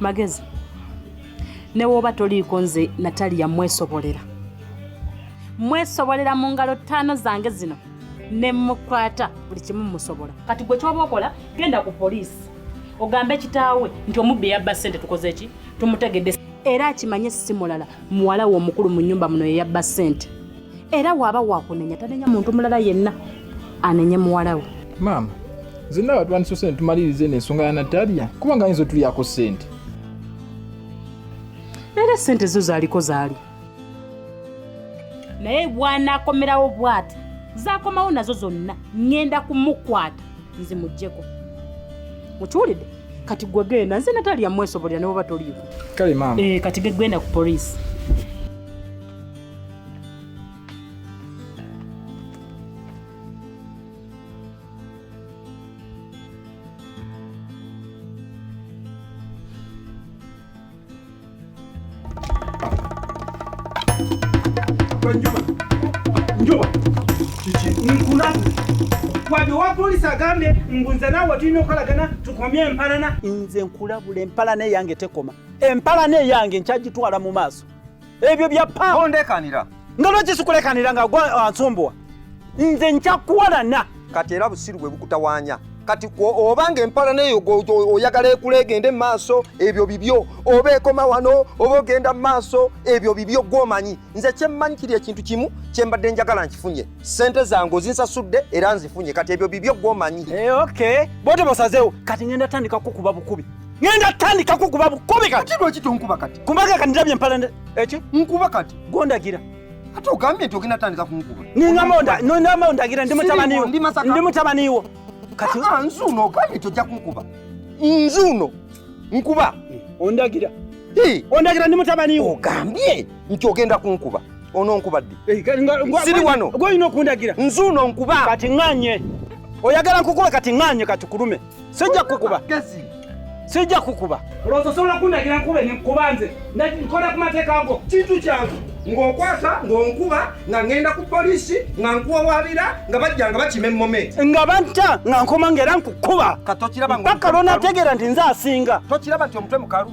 magezi ne woba toliiko nze nataliya mwesobolera mwesobolera mu ngalo ttaano zange zino ne mukwata buli kimu musobola kati gwe kyoba okola genda ku poliisi ogambe kitaawe nti omubbi eyabba ssente tukoze ki tumutegedde era akimanye si mulala muwala we omukulu mu nnyumba muno yeyabba ssente era waaba wakunenya tanenya muntu mulala yenna anenye muwala we maama zenna batwandisa sente tumaliriza eno ensonga ya nataliya kubanga ayinza otulyako sente era sente zo zaliko zaali naye bwanakomerawo bwati zakomawo nazo zonna ŋŋenda kumukwata nzimugyeko mukiwulidde kati gwe genda nze natalya mwesobolera ne bwoba toliiko kale maama eh, kati gegenda ku poliisi Njuba, njuba, kiki nkulaze wadde owa polisi agambye mbu nze naawe tulina okukolagana tukomye empalana nze nkulabula empalana eyange tekoma empalana eyange nkyagitwala mu maaso ebyo bya pa ondekanira nga lwaki sikulekanira nga gwa ah, nsumbuwa nze njakuwalana kati era busiru bwe bukutawanya kati oba nga empala neyo oyagala ekula egende mumaaso ebyo bibyo oba ekoma wano oba ogenda mumaaso ebyo bibyo gwomanyi nze kyemmanyi kiri ekintu kimu kyembadde njagala nkifunye sente zange ozinsasudde era nzifunye kati ebyo bibyo gwomanyi eh, ok bote bosazewo kati ngenda tandika kukuba bukubi ngenda tandika kukuba bukubi kati lwaki tonkuba kati Kumbaga kati ndabye mpala eki? Eh, Nkuba kati. Gondagira. Ate ogambye nti ogenda tandika kunkuba. Ningamba onda, no ndamba ondagira ndi mutabani wo. Ndi mutabani wo. Kati ah, ah nzuno ogambye tojja kunkuba. Nzuno nkuba eh. ondagira. Hi, ondagira ndi mutabani wo. Ogambye nti ogenda kunkuba. Ono nkuba ddi? Eh, Siri wano. Gwe ino kundagira. Nzuno nkuba. Kati nganye. Oyagala nkukuwe kati nganye kati kulume. sijja kukuba sijja kukuba olowooza osobola kundagira nkube nkuba nze nkola ku mateeka go kintu kyange ng'okwata ng'onkuba nga ŋŋenda ku poliisi nga nkuwawaabira nga bajja nga bakima emmome nga banta nga nkoma nga era nkukuba paka lwonategeera nti nze asinga tokiraba nti omutwe mukalu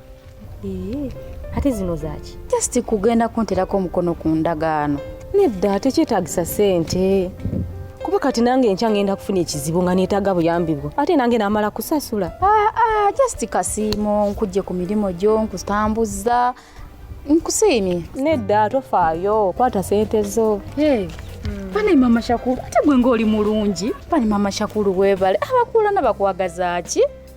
ate zino zaki just kugenda kunterako omukono ku ndagaano nedda tekyetagisa sente kuba kati nange enkya ngenda kufuna ekizibu nga neetaga buyambi bwo ate nange namala kusasula ah, ah, just kasiimo nkujje ku mirimu gyo nkutambuza nkusiimye nedda tofaayo kwata sente zo hey. Bane mama Shakuru ate gwe ng'oli mulungi. Bane mama Shakuru webale abakuulana bakwagaza ki?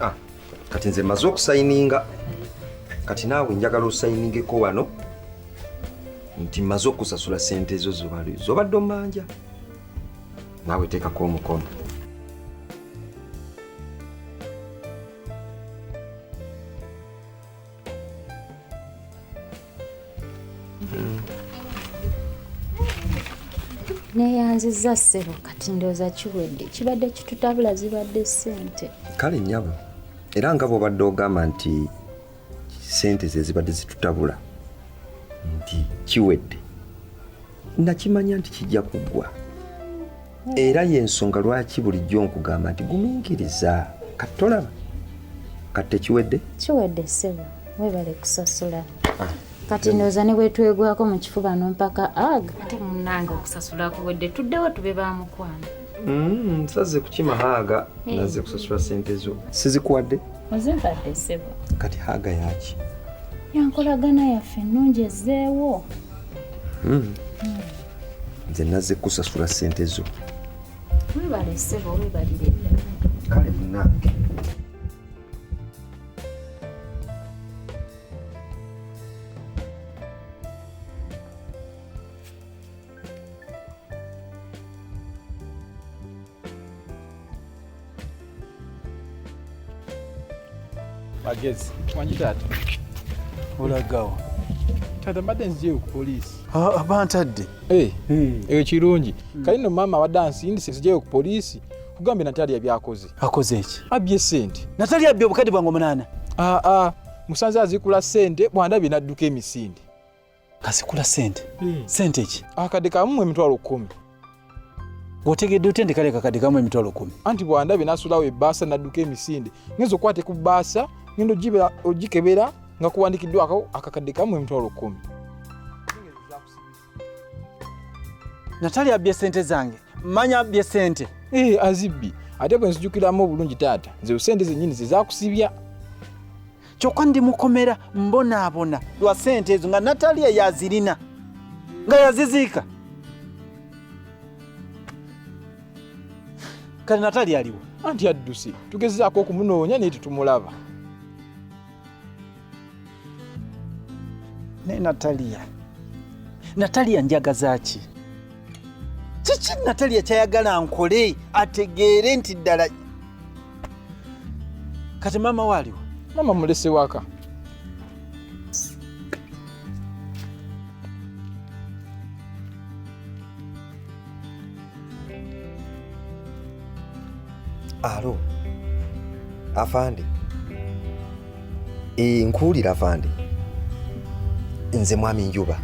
Ah, kati nze maze okusayininga kati naawe njagala osayiningeko wano nti maze okusasula sente ezo zobadde omanja naawe teekako omukono neyanziza ssebo kati ndooza kiwedde kibadde kitutabula zibadde ssente kale nyabo era nga bwobadde ogamba nti ssente ze zibadde zitutabula nti kiwedde nakimanya nti kijja kuggwa era yensonga lwaki bulijjo nkugamba nti guminkiriza kati tolaba kati tekiwedde kiwedde sebo webale kusasula ah. kati ndowooza ne bwetwegwako mu kifuba nompaka ag ate munange okusasula kuwedde tuddewo tube ba mukwano mm, nsaze kukima haaga eh. naze kusasula sente zo sizikuwadde ozimpadde sebo kati haaga yaki yankolagana yaffe ennungi ezzeewo mm. mm. nze nazze kusasula ssente zo webale sebo webalire kale munange magezi wangi taata olagawa taata mbadde nzijeyo ku poliisi aba ntadde eyo kirungi kale no maama abadde ansindise nzijeyo ku poliisi kugambye natali yabyakoze akoze eki abbye sente natali abbye obukadde bwange omunaana aa musanze azikula sente bwandabye nadduka emisinde kasikula sente hmm. sente ki akade kamu emitwalo kumi otegedde otya nti kale kakade kamu emitwalo kumi anti bwandabe nasulawo ebaasa nadduka emisinde ngenza okukwate ku baasa ngenda ogikebera nga kuwandikiddwako akakadde kamu emitwalo kumi natali abbye sente zange manya abbye sente ee eh, azibbi ate bwe nzijukiramu obulungi taata nze sente zenyini zezakusibya kyokka ndi mukomera mbonaabona lwa sente ezo nga nataliya yazirina nga yaziziika kale nataliya aliwo anti adduse tugezezaako okumunoonya naye tetumulaba naye nataliya nataliya njagaza ki kiki natalya kyayagala nkole ategeere nti ddala kati maama waaliwo maama mulese waka alo afande Eh, nkuwulira vande nze mwami njuba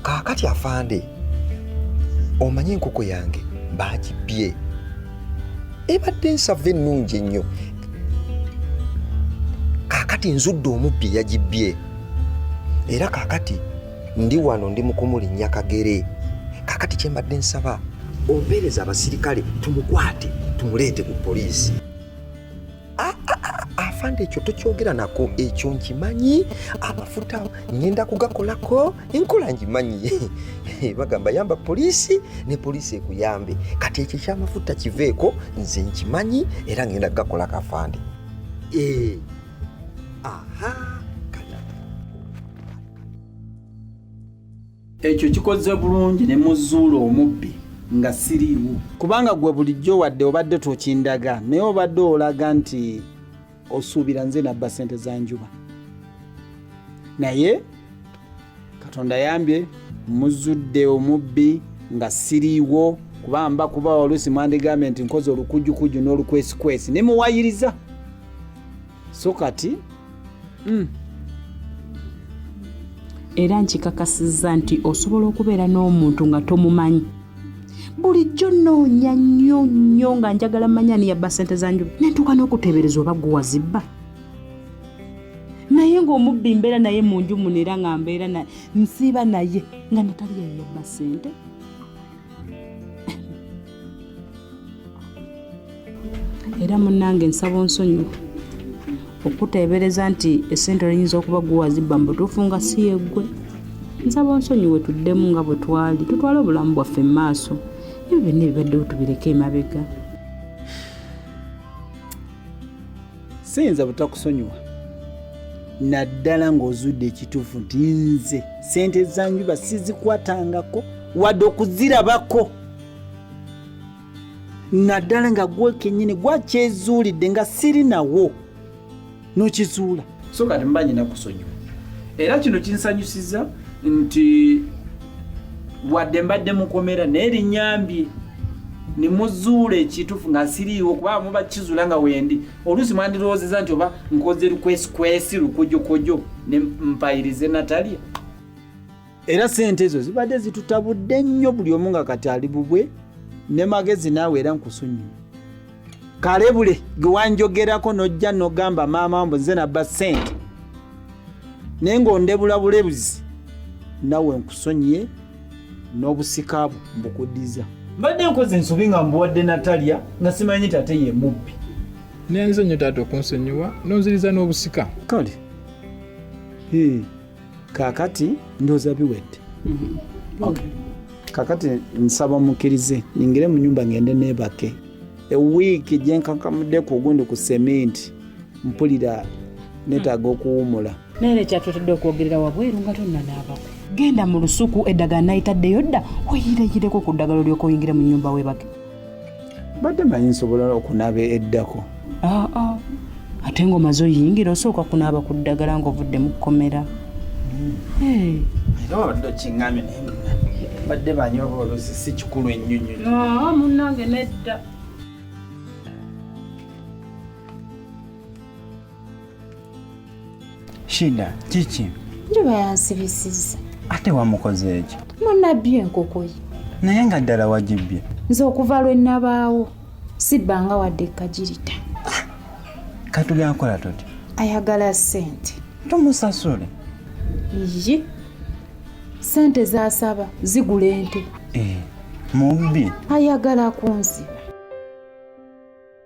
kaakati afande omanyi enkoko yange baagibbye ebadde ensava ennungi ennyo kaakati nzudde omubbi yagibbye era kaakati ndi wano ndi mukumulinnya kagere kaakati kyembadde nsaba ompeereza abasirikale tumukwate tumuleete ku poliisi Ah, ah, ah, afande ekyo tokyogera nako ekyo nkimanyi amafuta ngenda kugakolako enkola ngimanyi bagamba yamba poliisi ne poliisi ekuyambe kati ekyo ekyamafuta kiveeko nze nkimanyi era ngenda kugakolako afande eh, aha Ekyo kikoze bulungi ne muzuula omubbi nga siriiwo. Kubanga gwe bulijjo wadde obadde tokindaga naye obadde olaga nti osuubira nze nabba sente za njuba. Naye Katonda yambye muzudde omubbi nga siriiwo kuba mba kuba oluusi mwandigambye nti nkoze olukujukujju n'olukwesikwesi ne muwayiriza. so kati mm. era nkikakasizza nti osobola okubeera n'omuntu nga tomumanyi bulijjo noonya nnyo nnyo nga njagala manya niyabba sente za njuba nentuuka n'okuteebereza oba gwe wazibba naye ng'omubbi mbeera naye mu nju muno era nga mbeera nsiiba naye nga natali yayabba sente era munnange nsaba onsonyiwa okuteebereza nti essente oyinza okuba guwazibba mu butuufu nga si yeggwe nsaba onsonyiwe tuddemu nga bwe twali tutwale obulamu bwaffe mu maaso ebyo byonna ebibaddewo tubireke emabega siyinza butakusonyiwa naddala ng'ozudde ekituufu nti nze sente zanjuba sizikwatangako wadde okuzirabako naddala nga gwe kenyini gwakyezuulidde nga siri nawo nokizuula so kati mba nyina kusonyiwa era kino kinsanyusiza nti wadde mbadde mukomera naye linyambye nemuzuula ekitufu nga siriiwo kuba muba kizula nga wendi oluusi mwandirowoozeza nti oba nkoze lukwesikwesi lukojokojo nempayirize natalya era sente ezo zibadde zitutabudde nnyo buli omu nga kati ali bubwe ne magezi naawe era nkusonyiwe kalebule gwe wanjogerako nojja nogamba maama mbu nze nabba sente naye ngaondebula bulebuzi nawe nkusonyiye n'obusika bwo mbukuddiza mbadde nkoze ensobi nga mbuwadde natalya nga simanyi nti ate ye mubbi nenze nyo taata okunsonyiwa nonziriza n'obusika kale kakati ndoza biwedde mm-hmm. okay. kakati nsaba mukirize ningire mu nyumba ngende nebake ewiiki gyenkankamuddeko ogundi ku sementi mpulira netaaga mm. okuwumula naye nekyatetadde okwogerera wabweru nga tonnanaabako genda mu lusuku eddagala nayitaddeyo dda weyireyireko ku ddagala olyoka oyingira mu nyumba webake badde manyi nsobola okunaaba eddako ah, ah. ate ngaomaze oyingira osooka kunaaba ku ddagala ngaovudde mu kkomera badde banyi oba oluzi si kikulu ennyonyo ah, munange nedda shida kiki njuba yansibisiza ate wamukoze ekyo munabbye enkoko ye naye nga ddala wagibbye nze okuva lwe nabaawo sibbanga wadde kagirita katugenkola tuti ayagala sente tumusasule iyi sente zasaba zigula ente eh, mubbi ayagala kunziba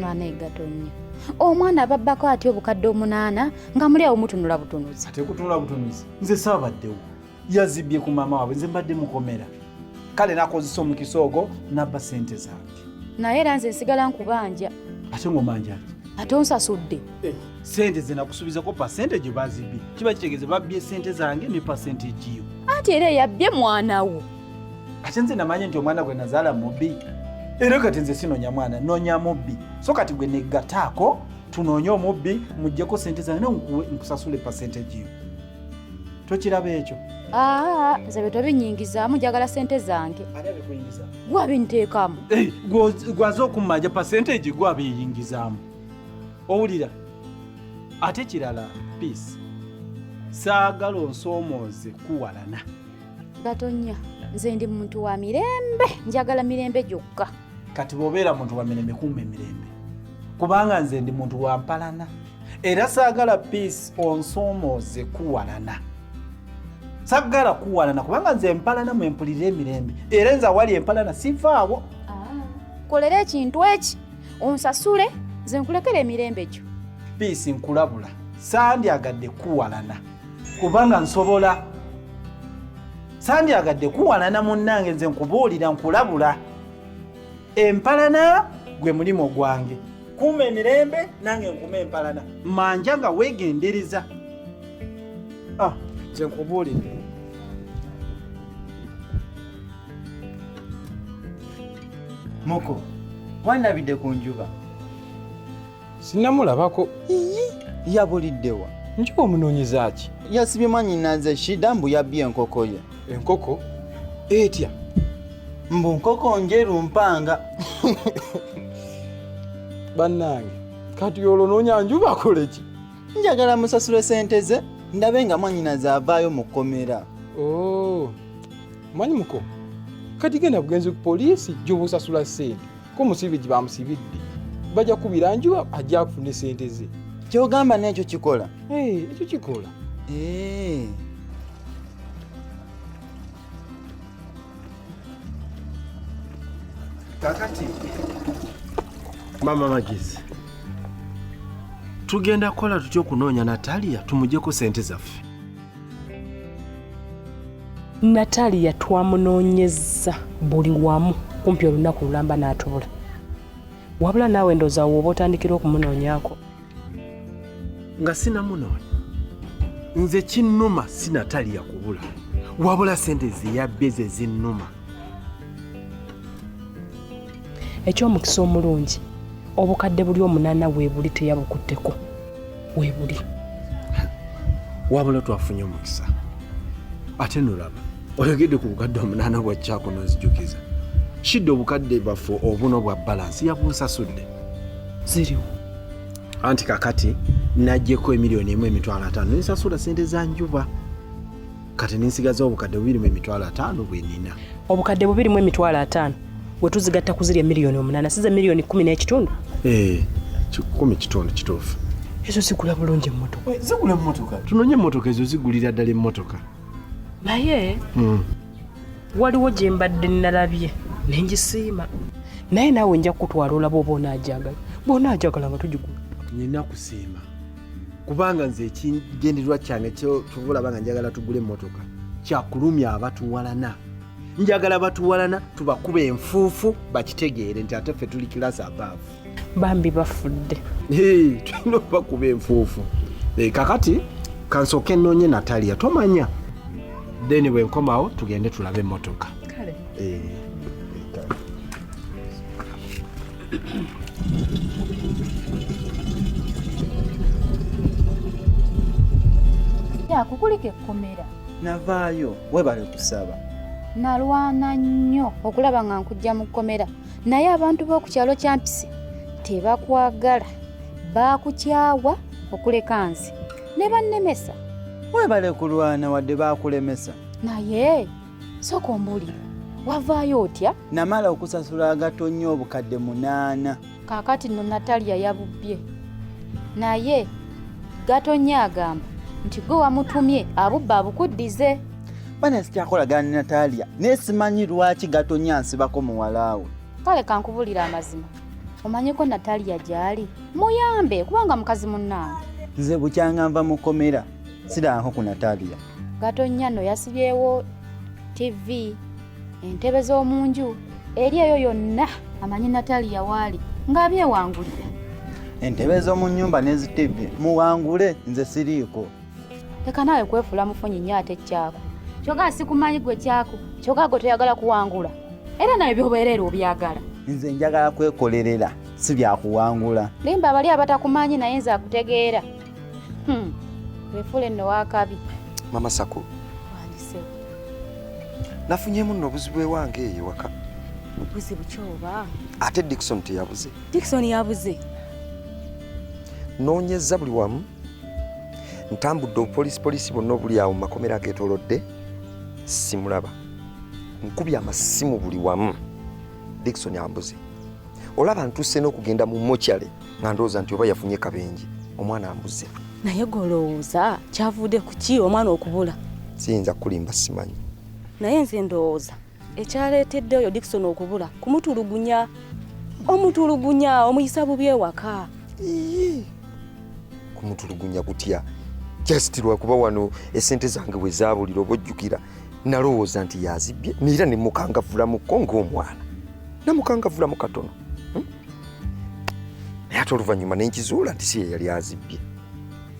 mwana egato nnyo omwana ababbako atya obukadde omunaana nga muli awo mutunula butunuzi ate kutunula butunuzi nze saabaddewo yazibbye ku maama waabwe nze mbadde mukomera kale nakozesa omukisa ogwo nabba sente zange naye era nze nsigala nkubanja ate ng'omanjaki ate onsasudde eh. sente ze nakusubizako pasente gye bazibbye kiba kitegeeza babbye sente zange ne pasente egiyo anti era eyabbye mwana wo ate nze namanye nti omwana gwe nazaala mubbi era kati nze sinonya mwana nonya mubbi so kati gwe negataako tunoonye omubbi mujjeko sente zange ne nkusasule percentage yo tokiraba ekyo ah, nze bye tobinyingizaamu njagala sente zange gwabinteekamu eh, gwaze okummanja percentage gwabiyingizaamu owulira ate kirala peace saagala onsoomooze kuwalana gatonya nze ndi muntu wa mirembe njagala mirembe gyokka kati bwobeera muntu wa mirembe kumba emirembe kubanga nze ndi muntu wa mpalana era saagala peace onsomooze kuwalana saggala kuwalana kubanga nze empalana mwempulira emirembe era nze awali empalana sivaawo ah, kolera ekintu eki onsasule nze nkulekera emirembe gyo piisi nkulabula sandyagadde kuwalana kubanga nsobola sandyagadde kuwanana munnange nze nkubuulira nkulabula empalana gwe mulimu gwange kuuma emirembe nange nkuuma empalana manja nga weegendereza ah, nze nkubuulire muko wanabidde ku njuba Sinnamulabako. Iyi yabuliddewa. Njuba omunoonyeza ki? Yasibye mwannyinaze Shida mbu yabbye enkoko ye. Enkoko etya? Mbu nkoko njeru mpanga. Bannange kati olwo noonya njuba akole ki? Njagala musasule sente ze ndabe nga mwannyinaze avaayo mu kkomera. Oh, manyi muko kati genda bugenzi ku poliisi gy'oba osasula sente. ko musibe gye bamusibidde bajja kubira njuba ajja kufuna esente ze kyogamba nekyo kikola ekyo kikola kakati mama magezi tugenda kukola tutya okunoonya natalia tumujeko sente zaffe Natalia twamunoonyezza buli wamu kumpi olunaku lulamba n'atubula wabula naawe ndooza wooba otandikira okumunoonyako nga sinamunoonya nze kinnuma si Natalia kubula wabula sente zeyabbe ze zinnuma eky'omukisa omulungi obukadde buli omunana weebuli teyabukutteko weebuli wabula twafunye omukisa ate nolaba oyogedde ku bukadde omunana bwakyako nonzijukiza shidde obukadde baffe obuno bwa balansi yabunsasudde ziriwo anti kakati najjeko emiliyoni emu emitwalo ataano nensasula sente za njuba kati ninsigaza obukadde bubiri mu emitwalo ataano bwenina obukadde bubiri mu emitwalo ataano wetuzigatta kuzirya miliyoni omunana size miliyoni kumi n'ekitundu eh, kikumi kitundu kituufu ezo zigula bulungi emotoka eh, zigula emotoka tunonye emotoka ezo zigulira ddala emotoka naye hmm. waliwo gye mbadde nalabye nengisiima naye naawe nja kukutwala olaba oba onaajagala bwonaajagala nga tugigula nina kusiima kubanga nze ekigendererwa kyange kyovulaba nga njagala tugula emmotoka kyakulumya abatuwalana njagala batuwalana tubakuba enfuufu bakitegeere nti ate ffe tuli kilasi abaavu bambi bafudde tulina okubakuba enfuufu eh, kakati kansooka enoonye nataliya tomanya then bwenkomawo tugende tulabe emmotoka kale eh. yakukulika ekkomera navaayo webale kusaba nalwana nnyo okulaba nga nkujja mu kkomera naye abantu b'oku kyalo kyampisi tebakwagala baakukyawa okuleka nze ne bannemesa webale kulwana wadde baakulemesa naye sooka ombuulire wavaayo otya namala okusasula agatonnya obukadde munaana kaakati no nataliya yabubbye naye gatonnya agamba nti gwe wamutumye abubba abukuddize bana sikyakolagana ne nataliya naye simanyi lwaki gatonnya nsibako muwalaawe kale kankubulira amazima omanyiko nataliya gy'ali muyambe kubanga mukazi munnaange nze bukyanga nva mu kkomera sidaanko ku natalia gatonnya no yasibyewo tv entebe z'omu nju eri eyo yonna amanyi natalia waali ng'abyewangulira entebe z'omu nnyumba n'ezitibbi muwangule nze siriiko leka naawe kwefuula mufunyi nnyo ate kyako kyogaa sikumanyi gwe kyako kyogaa gwe toyagala kuwangula era nawe byobeereera obyagala nze njagala kwekolerera si byakuwangula limba abali abatakumanyi naye nze akutegeera Hmm. Wefule no wakabi. Mama Sako. Wandise. Nafunyemu no buzibwe wange eyo waka. Buzibu kyoba. Ate Dickson teyabuze. Dickson yabuze. Nonyeza buli wamu. Ntambudde police police bonna obuli awo makomera agetolodde simulaba. Nkubye amasimu buli wamu. Dickson ambuze. Olaba ntuse n'okugenda mu mochale. nga ndowooza nti oba yafunye kabenje omwana ambuze naye golowooza kyavude kuki omwana okubula siyinza kukulimba simanyi naye nze ndowooza ekyaleetedde oyo dikson okubula kumutulugunya omutulugunya omuyisa bubi ewaka kumutulugunya kutya just lwakuba wano esente zange bwe zaabulira oba ojjukira nalowooza nti yazibbye neera ne mukangavulamuko ng'omwana namukangavulamu katono naye ate oluvannyuma ne nkizuula nti si ye yali azibbye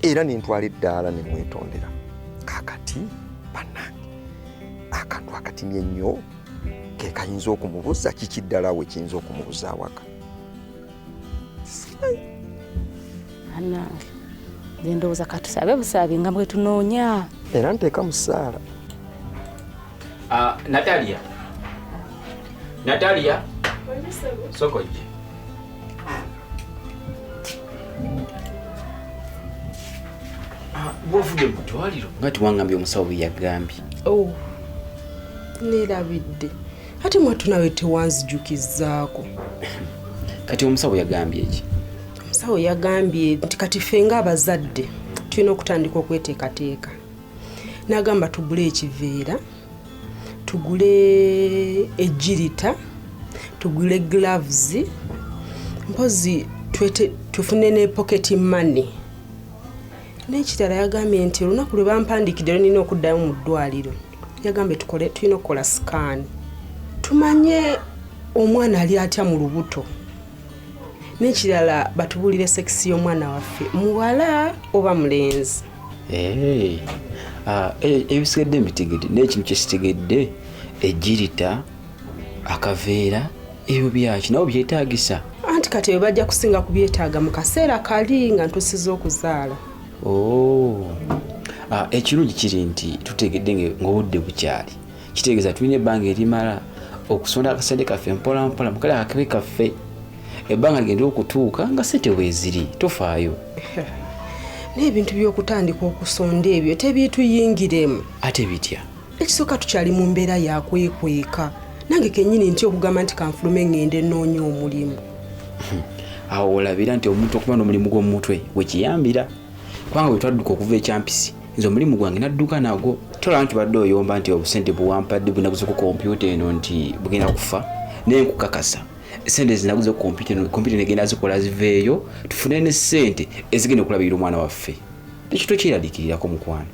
era ne ntwala eddaala ne mwetondera kakati bannange akantu akatimye ennyo ke kayinza okumubuza kiki ddala we kiyinza okumubuza awaka anange ngendowooza katusabe busaabi nga bwetunoonya era nteeka musaala Ah, Natalia. Natalia. Soko je. Ah, Bwovude mu ddwaliro nga tiwangambye omusawo bwe yagambye. Oh. Neerabidde. Ate mwattu nawe tewanzijukizzaako. Kati omusawo yagambye ki? Omusawo yagambye nti kati ffe ng'abazadde tulina okutandika okweteekateeka. n'agamba tugule ekiveera tugule ejjirita tugule gloves mpozi tufune ne pocket money n'ekirala yagambye nti olunaku lwe bampandikidde lwe nina okuddayo mu ddwaliro yagambye tukole tulina okukola sikaani tumanye omwana ali atya mu lubuto nekirala batubulire sekisi y'omwana waffe muwala oba mulenzi eh, ah, eh, ebisigadde mbitegedde naye ekintu kyesitegedde ejirita akaveera ebyo byaki nawe byetagisa anti kati ebyo bajja kusinga kubyetaaga mu kaseera kali nga ntusiza okuzaala oh. ah, ekirungi kiri nti tutegedde ngaobudde bukyali kitegeeza tulina ebbanga erimala okusonda akasente kaffe mpola mpola mukale akabe kaffe ebbanga ligenda okutuuka nga sente weeziri tofaayo naye ebintu by'okutandika okusonda ebyo tebiituyingiremu ate bitya ekisooka tukyali mu mbeera yakwekweka nange kenyini nti okugamba nti kanfulume ngende nnoonya omulimu hmm. awo olabira nti omuntu okuba n'omulimu gw'omumutwe wekiyambira kubanga bwe twadduka okuva ekyampisi nze omulimu gwange nadduka nagwo tola nti badde oyomba nti obusente buwampadde bwenaguze ku kompyuta eno nti bugenda kufa naye nkukakasa sente zinaguze ku kompyuta eno kompyuta negenda zikola ziveeyo tufune ne sente ezigenda okulabirira omwana waffe tekitwe kyeraliikirirako mukwano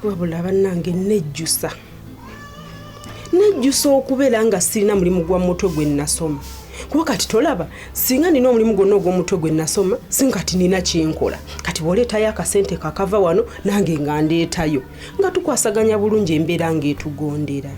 wabula bannange nejjusa nejjusa okubeera nga sirina mulimu gwa mutwe gwe nasoma kuba kati tolaba singa nina omulimu gwonna ogw'omutwe gwe nasoma singa kati nina kyenkola kati bwoleetayo akasente kakava wano nange nga ndeetayo nga tukwasaganya bulungi embeera ng'etugondera